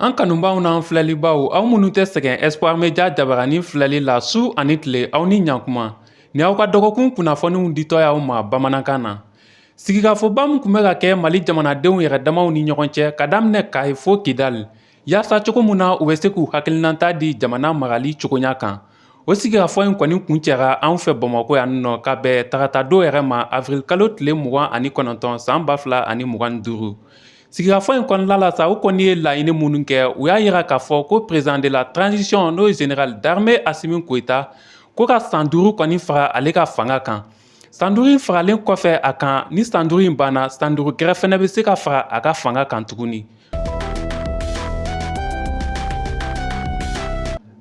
An kanubaaw n'an filɛlibaaw aw minnu tɛ sɛgɛn Espoir Media jabaranin filɛli la su ani tile aw ni ɲankuma ni aw ka dɔgɔkun kunnafoniw ditɔ y'aw ma bamanankan na sigikafɔba min tun bɛ ka kɛ Mali jamanadenw yɛrɛ damaw ni ɲɔgɔn cɛ ka daminɛ Kayi fo Kidali Yaasa cogo min na u bɛ se k'u hakilinata di jamana marali cogoya kan o sigikafɔ in kɔni kuncɛra anw fɛ bamakɔ yan nɔ ka bɛn tarata don yɛrɛ ma awirilikalo tile mugan ani kɔnɔntɔn san ba fila ani mugan ni duuru sigikafɔ in kɔnɔna la sa u kɔni ye laɲini minnu kɛ u y'a yira k'a fɔ ko perezidan de la taranzisiyɔn n'o ye zenerali darime asimi goyita ko ka san duuru kɔni fara ale ka fanga kan San duuru in faralen kɔfɛ a kan ni san duuru in banna san duuru gɛrɛ fana bɛ se ka fara a ka fanga kan tuguni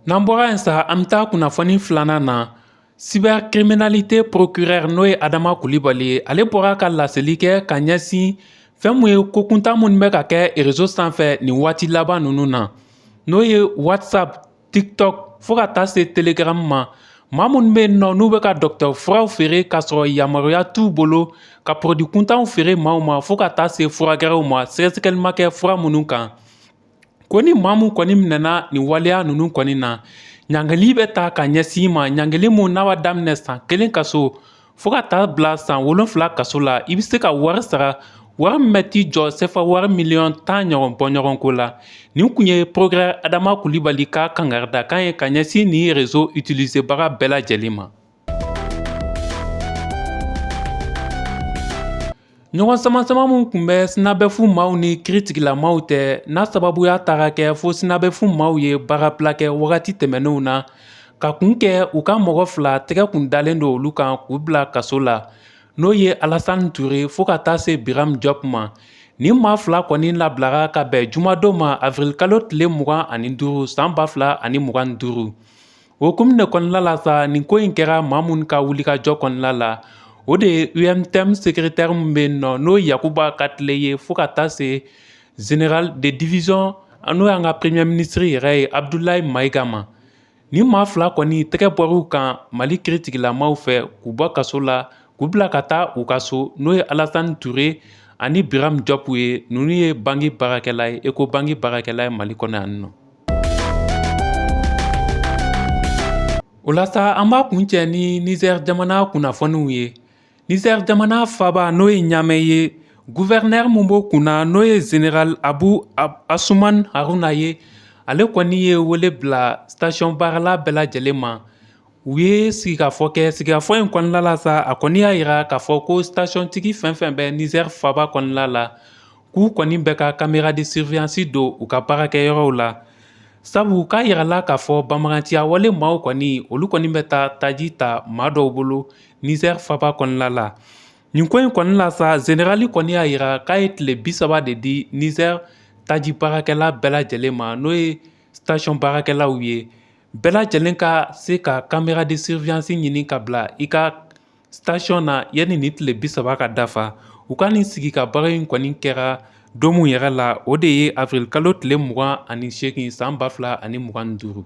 n'an bɔra yen sa an bɛ taa kunnafoni filanan na cybercriminalité procureur n'o ye adama kulibali ye ale bɔra ka laseli kɛ ka ɲɛsin fɛn min ye ko kuntan minnu bɛ ka kɛ erezo sanfɛ nin waati laban ninnu na n'o ye whatsapp tiktok fo ka taa se telegram ma maa minnu bɛ yen nɔ n'u bɛ ka dɔkɔtɔrɔ furaw feere k'a sɔrɔ yamaruya t'u bolo ka pɔrɔdi kuntanw feere maaw ma fo ka taa se fura gɛrɛw ma sɛgɛsɛgɛli ma kɛ fura minnu kan ko ni maa min kɔni minɛna nin waleya ninnu kɔni na ɲangili bɛ ta ka ɲɛsin i ma ɲangili min n'a b'a daminɛ san kelen kaso fo ka taa bila san wolonfila kaso la i bɛ se ka wari sara wari min bɛ t'i jɔ sefa wari miliyɔn tan ɲɔgɔn bɔ ɲɔgɔn ko la nin kun ye procureur adama kulibali ka kankarida kan ye ka ɲɛsin nin rezo utilisebaga bɛɛ lajɛlen ma Ɲɔgɔn sama sama minnu tun bɛ sinabɛfu maaw ni kiritigɛlamaaw cɛ n'a sababuya taara kɛ fo sinabɛfu maaw ye baarabila kɛ wagati tɛmɛnenw na ka kun kɛ u ka mɔgɔ fila tɛgɛ kun dalen don olu kan k'u bila kaso la n'o ye alasan ture fo ka taa se biram jɔp ma nin maa fila kɔni labilara ka bɛn jumadon ma awirilikalo tile mugan ani duuru san ba fila ani mugan ni duuru O ko in kɔnɔna la sa nin ko in kɛra maa minnu ka wulikajɔ kɔnɔna la o de ye UNTM sekeretɛri min bɛ yen nɔ n'o ye yakuba katile ye fo ka taa se général de division n'o y'an ka premiye minisiri yɛrɛ ye abudulayi mayiga ma nin maa fila kɔni tɛgɛ bɔr'u kan mali kiritigɛlamaaw fɛ k'u bɔ kaso la k'u bila ka taa u ka so n'o ye alasan ture ani biram jɔp ye ninnu ye banki baarakɛla ye ecobank baarakɛla ye mali kɔnɔ yan nɔ O la sa an b'a kuncɛ ni Niger jamana kunnafoniw ye. Niger jamana faaba n'o ye Ɲamɛ ye, gouverneur min b'o kunna n'o ye General Abu Asuman Haruna ye, ale kɔni ye wele bila station baarala bɛɛ lajɛlen ma. u ye sigikafɔ kɛ sigikafɔ in kɔnɔna la sa a kɔni y'a yira k'a fɔ ko stationtigi fɛn fɛn bɛ nizɛri faba kɔnɔna la k'u kɔni bɛɛ ka caméra de surveillance don u ka baarakɛyɔrɔw la sabu k'a yirala k'a fɔ banbaganciya wale maaw kɔni olu kɔni bɛ taa taji ta maa dɔw bolo nizɛri faba kɔnɔna la nin ko in kɔni la sa zenerali kɔni y'a yira k'a ye tile bi saba de di nizɛri taji baarakɛla bɛɛ lajɛlen ma n'o ye station baarakɛlaw ye bɛɛ lajɛlen ka se ka caméra de surveillance ɲini ka bila i ka station na yanni ni tile bi saba ka dafa u ka nin sigi ka baro in kɔni kɛra don mun yɛrɛ la o de ye avril kalo tile mugan ani seegin san ba fila ani mugan ni duuru